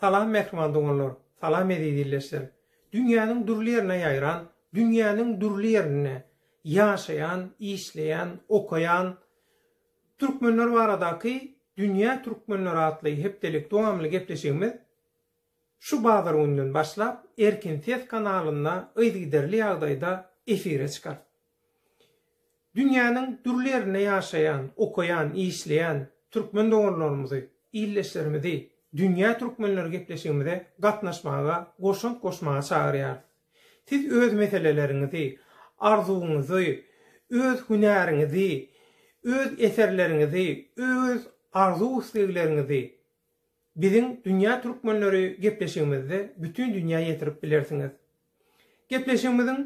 Salam mähriban doganlar, salam eziz ildeşler! Dünýäniň dürli ýerine ýaýran, dünýäniň dürli ýerinde ýaşaýan, işleýän, okaýan türkmenler baradaky Dünýä türkmenleri atly hepdelik dowamly gepleşigimiz şu bazar gününden başlap Erkin ses kanalynda yzygiderli ýagdaýda efire çykar. Dünýäniň dürli ýerinde ýaşaýan, okaýan, işleýän türkmen doganlarymyzy, ildeşlerimizi Dünýä türkmenleri gepleşigimize gatnaşmaga, goşant goşmaga çagyrýarys. Siz öz meseleleriňizi, arzuwyňyzy, öz hünäriňizi, öz eserleriňizi, öz arzuw-islegleriňizi biziň Dünýä türkmenleri gepleşigimizde bütin dünýä ýetirip bilersiňiz. Gepleşigimiziň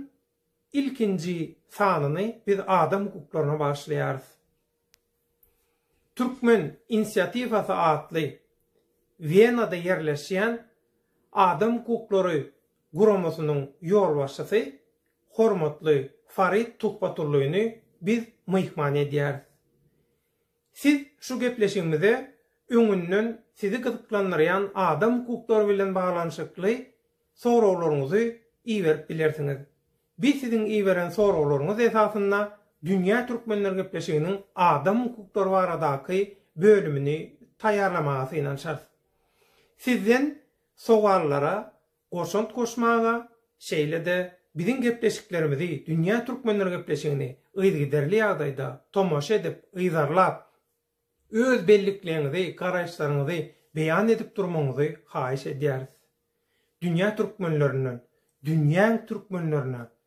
Ilkinji sanyny biz adam hukuklaryna bagyşlaýarys. Türkmen inisiatiwasy atly Wienada ýerleşýän adam hukuklary guramasynyň ýolbaşçysy hormatly Farid Tuhbaturlyny biz myhman edýäris. Siz şu gepleşigimize öňünden sizi gyzyklandyrýan adam hukuklary bilen baglanyşykly soraglaryňyzy iberip bilersiňiz. Biz siziň iberen soraglaryňyz esasynda Dünýä Türkmenler gepleşiginiň adam hukuklary baradaky bölümini taýýarlamaga synanyşarys. Sizden sowallara goşant goşmaga, şeýle-de biziň gepleşiklerimizi Dünýä Türkmenleri gepleşigini yzygiderli ýagdaýda tomaşa edip, yzarlap, öz bellikleňizi, garaýyşlaryňyzy beýan edip durmagyňyzy haýyş edýäris. Dünýä Türkmenlerinden Dünýäň Türkmenlerine